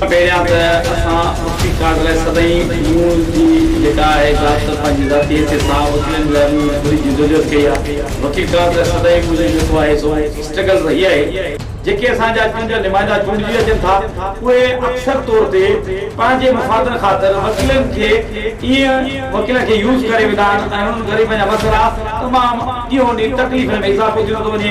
پهريان ته اسان اٺي ڪارڊ لاء سدائين نيوز جي جيڪا آهي زيادھ تر پنهنجي ذاتي حيثيت سان وڪيلن لاء نيوز گهرج جي جدوجهد ڪئي آ. وڪيل ڪارڊ لاء سدائين منهنجو جيڪو آهي سو اسٽرگل رهي آهي. جيڪي اسان جا ڪن جا نمائندا چونڊجي اچن ٿا اهي اڪثر طور تي پنهنجي مفادن خاطر وڪيلن کي ايئن وڪيلن کي يوز ڪري ويندا آهن ۽ انهن ڪري پنهنجا مسئلا تمام ڏينهون ڏينهن تڪليفن ۾ اضافو ٿيندو ٿو وڃي.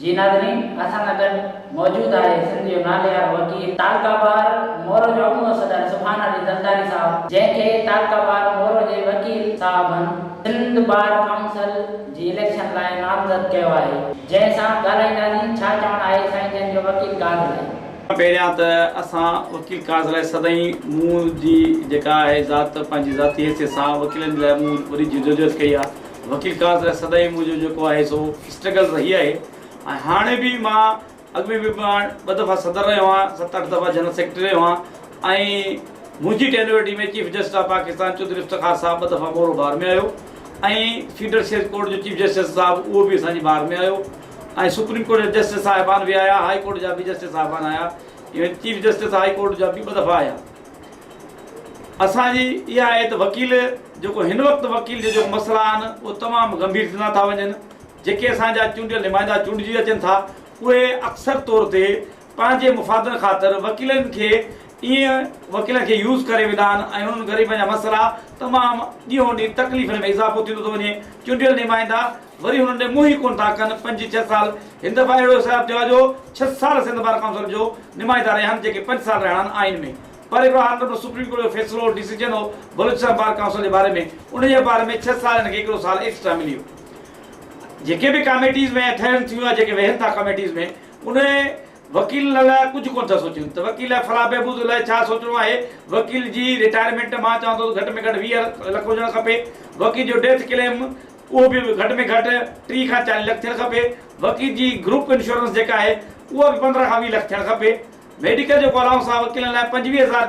جي ناظرين اسان سان گڏ موجود آهي سنڌ جو ناليوارو وڪيل تعلقه بار مورو جو اڳوڻو صدر سبحان علي زرداري صاحب جنهن کي تعلقه بار مورو جي وڪيل صاحبن سنڌ بار ڪائونسل جي اليڪشن لاء نامزد ڪيو آهي جنهن سان ڳالهائينداسين ڇا چوڻ آهي سائين جن جو وڪيل ڪاز لاء. پهريان ته اسان وڪيل ڪاز لاء سدائين مون جي جيڪا آهي ذات پنهنجي ذاتي حيثيت سان وڪيلن جي لاء مون وڏي جدوجهد ڪئي آهي. وڪيل ڪاز لاء سدائين منهنجو جيڪو آهي سو اسٽرگل رهي آهي ۽ هاڻي به مان اڳ ۾ به مان ٻه دفعا صدر رهيو آهيان ست اٺ دفعا جنرل سيڪريٽري رهيو آهيان ۽ منهنجي tenure ۾ chief justice of Pakistan Chaudhry Iftikhar صاحب ٻه دفعا مورو بار ۾ آيو ۽ فيڊرل سيشن ڪورٽ جو چيف جسٽس صاحب اهو به اسان جي بار ۾ آيو ۽ سپريم ڪورٽ جا جسٽس صاحبان به آيا هاء ڪورٽ جا به جسٽس صاحبان آيا even chief justice high court جا به ٻه دفعا آيا اسان جي اها ايت وڪيل جيڪو هن وقت وڪيل جي جيڪو مسئلا آهن اهي تمام گنڀير ٿيندا ٿا وڃن جيڪي اسان جا چونڊيل نمائندا چونڊجي اچن ٿا اهي اڪثر طور تي پنهنجي مفادن خاطر وڪيلن کي ائين وڪيلن کي يوز ڪري ويندا آهن ۽ انهن غريبن جا مسئلا تمام ڏينهون ڏينهن تڪليفن ۾ اضافو ٿيندو ٿو وڃي چونڊيل نمائندا وري هنن ڏي منهن ئي ڪونه ٿا ڪن. پنج ڇهه سال هن دفعا اهڙو حساب ٿيو آهي جو ڇهه سال سنڌ بار ڪائونسل جو نمائندا رهيا آهن جيڪي پنج سال رهڻا آهن آئين ۾. پر هڪڙو هاڻ رڳو سپريم ڪورٽ جو فيصلو هو، ڊيسيجن هو بلوچستان بار ڪائونسل جي باري ۾ ان جي باري ۾ ڇهه سال هن کي هڪڙو سال ايڪسٽرا مليو. جيڪي به ڪاميٽيز ۾ اٿهرن ٿيون يا جيڪي ويهن ٿا ڪاميٽيز ۾ ان وڪيلن لاء ڪجهه ڪونه ٿا سوچين ته وڪيل لاء فلاح بهبود لاء ڇا سوچڻو آهي. وڪيل جي رٽائرمينٽ مان چوان ٿو ته گهٽ ۾ گهٽ ويهه لک هجڻ کپي. وڪيل جو ڊيٿ ڪليم. اهو به گهٽ ۾ گهٽ ٽي کان چاليهه لک ٿيڻ کپي، وڪيل جي گروپ انشورنس جيڪا آهي اها به پندرهن کان ويهه لک ٿيڻ کپي، ميڊيڪل جيڪو الائونس آهي وڪيلن لاء پنجويهه هزار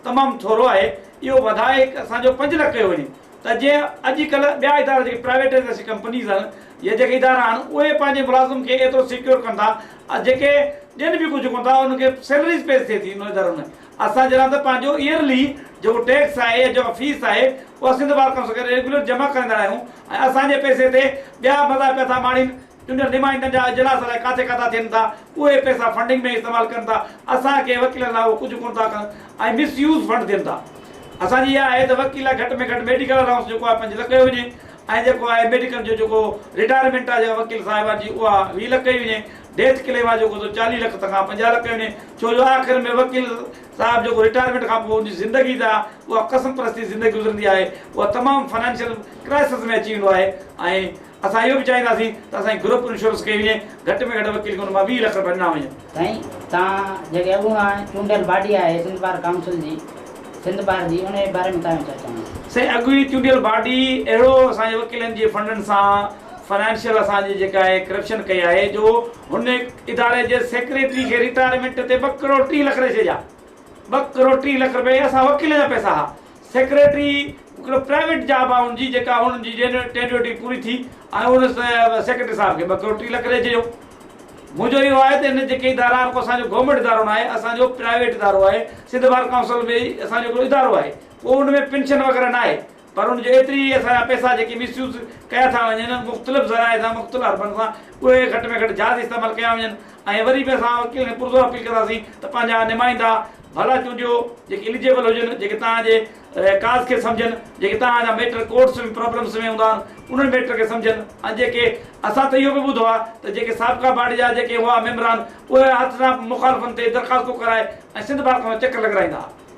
تمام ٿورو آهي، اهو وڌائي اسان جو پنج لک ڪيو وڃي ته جيئن اڄ ڪلهه ٻيا ادارا جيڪي پرائيويٽائيزيشن ڪمپنيز آهن يا جيڪي ادارا آهن اهي پنهنجي ملازم کي ايترو سيڪيور ڪن ٿا ۽ جيڪي ڏين به ڪجهه ڪونه ٿا انهن کي سيلريز پيش ٿئي ٿي انهن ادارن ۾ اسان جڏهن ته پنهنجو Yearly جيڪو ٽيڪس آهي يا جيڪا فيس آهي اها سنڌ بار ڪائونسل کي ريگيولر جمع ڪرائيندا رهيون ۽ اسان جي پئسي تي ٻيا مزا پيا ٿا ماڻين، چونڊيل نمائندن جا اجلاس الائي ڪاٿي ڪاٿا ٿين ٿا، اهي پئسا فنڊنگ ۾ استعمال ڪن ٿا، اسان کي وڪيلن لاء اهو ڪجهه ڪونه ٿا ڪن ۽ مس يوز فنڊ ٿين ٿا. اسان جي اها آهي ته وڪيل لاء گهٽ ۾ گهٽ ميڊيڪل الائونس جيڪو آهي پنج لک ڪيو وڃي ۽ جيڪو آهي ميڊيڪل جو جيڪو رٽائرمينٽ آهي جيڪا وڪيل صاحبان جي اها ويهه لک ڪئي وڃي، ڊيٿ ڪليم آهي جيڪو سو چاليهه لک تان کان پنجاهه لک ڪيو وڃي، ڇو جو آخر ۾ وڪيل صاحب جيڪو رٽائرمينٽ کان پوء ان جي زندگي جا اها قسم پرستي زندگي گذرندي آهي اها تمام فنانشل ڪرائسز ۾ اچي ويندو آهي ۽ اسان اهو به چاهينداسين ته اسان جي گروپ انشورنس ڪئي وڃي گهٽ ۾ گهٽ وڪيل کي ان مان ويهه لک رپيا ڏنا وڃن. سائين توهان جيڪي اڳوڻان چونڊيل باڊي آهي سنڌ بار ڪائونسل جي سنڌ بار جي انهي باري ۾ توهان جو ڇا چوڻ آهي؟ سائين اڳوڻي چونڊيل باڊي اهڙو اسان جي وڪيلن جي فنڊن سان فنانشل اسان جي جيڪا اهي ڪرپشن ڪئي آهي جو هن اداري جي سيڪريٽري کي ريٽائرمينٽ تي ٻه ڪروڙ ٽي لک ڏئي ڇڏيا ٻه ڪروڙ ٽي لک رپيا اهي اسان وڪيلن جا پئسا ها سيڪريٽري هڪڙو پرائيويٽ جاب آهي ان جي جيڪا هن جي ٽينيوٽي پوري ٿي ۽ ان سيڪريٽري صاحب کي ٻه ڪروڙ ٽي لک ڏئي ڇڏيو منهنجو اهو آهي ته هن جيڪي ادارا آهن اسان جو گورنمينٽ ادارو ناهي اسان جو پرائيويٽ ادارو آهي سنڌ بار ڪائونسل ۾ اسان جو هڪڙو ادارو آهي ڪو ان ۾ پينشن وغيره ناهي پر ان جي ايتري ئي اسان جا پئسا جيڪي مس يوز ڪيا ٿا وڃن، مختلف ذرائع سان، مختلف حربن سان، اهي گهٽ ۾ گهٽ جائز استعمال ڪيا وڃن ۽ وري به اسان وڪيلن کي پرزور اپيل ڪنداسين ته پنهنجا نمائندا ڀلا چونڊيو جيڪي اليجيبل هجن، جيڪي توهان جي ڪاز کي سمجهن، جيڪي توهان جا ميٽر ڪورٽس ۾ پرابلمس ۾ هوندا آهن انهن ميٽر کي سمجهن ۽ جيڪي اسان ته اهو به ٻڌو آهي ته جيڪي سابقا باڊي جا جيڪي هئا ميمبران اهي هٿ سان مخالفن تي درخواستون ڪرائي ۽ سنڌ بار کان چڪر لڳرائيندا ها.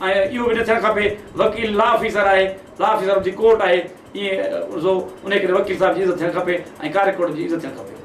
۽ اهو به نه ٿيڻ کپي وڪيل لا آفيسر آهي لا آفيسر ان جي ڪورٽ آهي ايئن سو انهي ڪري وڪيل صاحب جي عزت ٿيڻ کپي ۽ ڪاري ڪورٽ جي عزت ٿيڻ کپي.